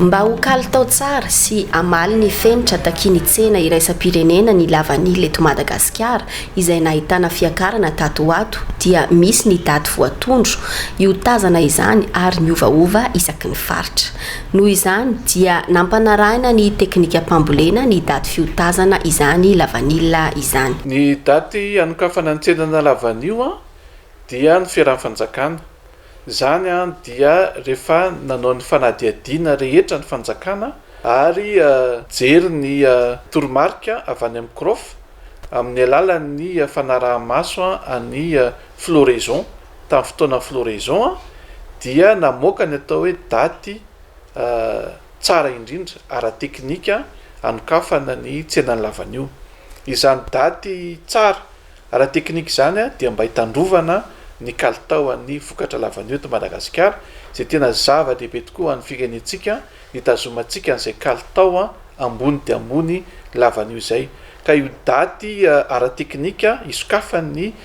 Mba ho kalitao tsara sy hamaly ny fenitra takian'ny tsena iraisam-pirenena ny lavanila eto Madagasikara izay nahitana fiakarana tato ho ato dia misy ny daty voatondro hiotazana izany ary miovaova isaky ny faritra. Noho izany dia nampanarahina ny teknikam-pambolena ny daty fiotazana izany lavanila izany. Ny daty hanokafana ny tsenana lavanio dia ny Fiarahan'ny Fanjakana. Izany dia rehefa nanao ny fanadihadiana rehetra ny Fanjakana ary nijery ny toromarika avy any amin'ny CROF amin'ny alalan'ny fanaraha-maso an'ny Floraison. tamin'ny fotoana floraison a, dia namoaka ny atao hoe daty tsara indrindra ara-teknika anokafana ny tsenan'ny lavanio. Izany daty tsara ara-teknika izany dia mba hitandrovana ny kalitaon'ny vokatra lavanio eto Madagasikara, izay tena zava-dehibe tokoa ho an'ny firenentsika, hitazomantsika an'izay kalitao ambony dia ambony lavanio izay. Ka io daty ara-teknika isokafan'ny.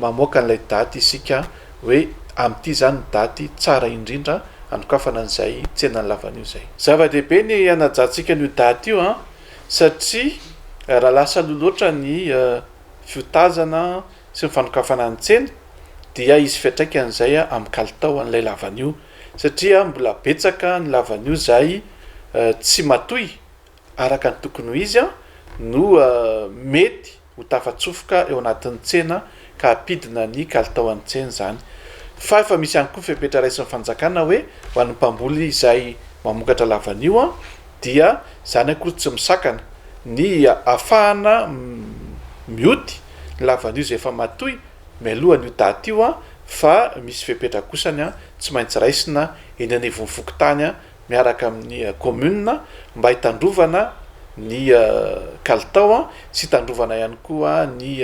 mamoaka an'ilay daty isika hoe amin'ity izany ny daty tsara indrindra hanokafana an'izay tsenan'ny lavanio izay. Zava-dehibe ny hanajantsika an'io daty io an! satria raha lasa aloha loatra ny fiotazana sy ny fanokafana ny tsena dia hisy fiantraikany izay amin'ny kalitao an'ilay lavanio satria mbola betsaka ny lavanio izay tsy matoy araka ny tokony ho izy no mety ho tafatsofoka eo anatin'ny tsena ka hampidina ny kalitao an'ny tsena izany. Fa efa misy ihany koa ny fepetra raisin'ny fanjakana hoe ho an'ny mpamboly izay mamokatra lavanio dia izany akory tsy misakana ny hahafahana mioty ny lavanio izay efa matoy mialohan'io daty io fa misy fepetra kosany tsy maintsy raisina eny anivon'ny fokontany miaraka amin'ny kaominina mba hitandrovana ny kalitao sy hitandrovana ihany koa ny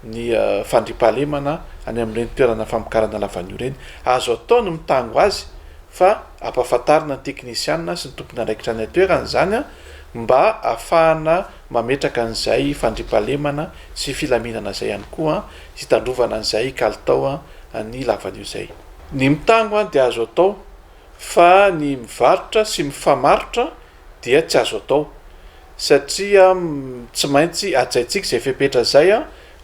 ny fandriampahalemana any amin'ireny toerana famokarana lavanio ireny. Azo atao ny mitango azy fa ampahafantarina ny teknisiana sy ny tompon'andraikitra any an-toerana izany mba ahafahana mametraka an'izay fandriampahalemana sy filaminana izay ihany koa hitandrovana an'izay kalitao ny lavanio izay. Ny mitango dia azo atao fa ny mivarotra sy mifamarotra dia tsy azo atao satria tsy maintsy ajaintsika izay fepetra izay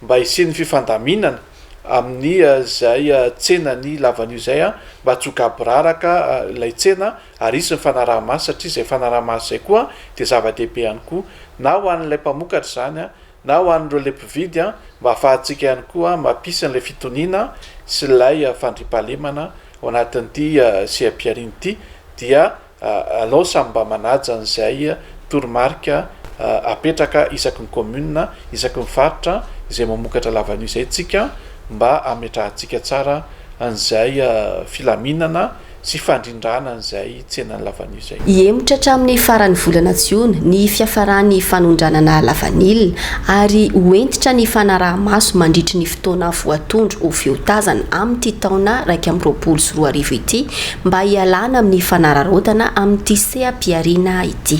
mba hisian'ny fifandaminana amin'ny izay tsenan'ny lavanio izay mba tsy ho gaboraraka ilay tsena ary hisy ny fanaraha-maso satria izay fanaraha-maso izay koa dia zava-dehibe ihany koa na ho an'ilay mpamokatra izany Na ho an'ireo le mpividy an, mba afahantsika ihany koa mampisy an'ilay fitoniana sy ilay fandriampahalemana ao anatin'ity seha-pihariana ity dia alao samy mba manaja an'izay toromarika apetraka isaky ny commune, isaky ny faritra izay mamokatra lavanio izay tsika mba ametrahantsika tsara an'izay filaminana sy fandrindrana an'izay tsenan'ny lavanio izay. Hihemotra hatramin'ny faran'ny volana jiona ny fiafaran'ny fanondranana lavanila ary ho hentitra ny fanaraha-maso mandritry ny fotoana voatondro ho fiotazana amin'ity taona iraika amby roapolo sy roa arivo ity mba hialana amin'ny fanararaotana amin'ity seha-pihariana ity.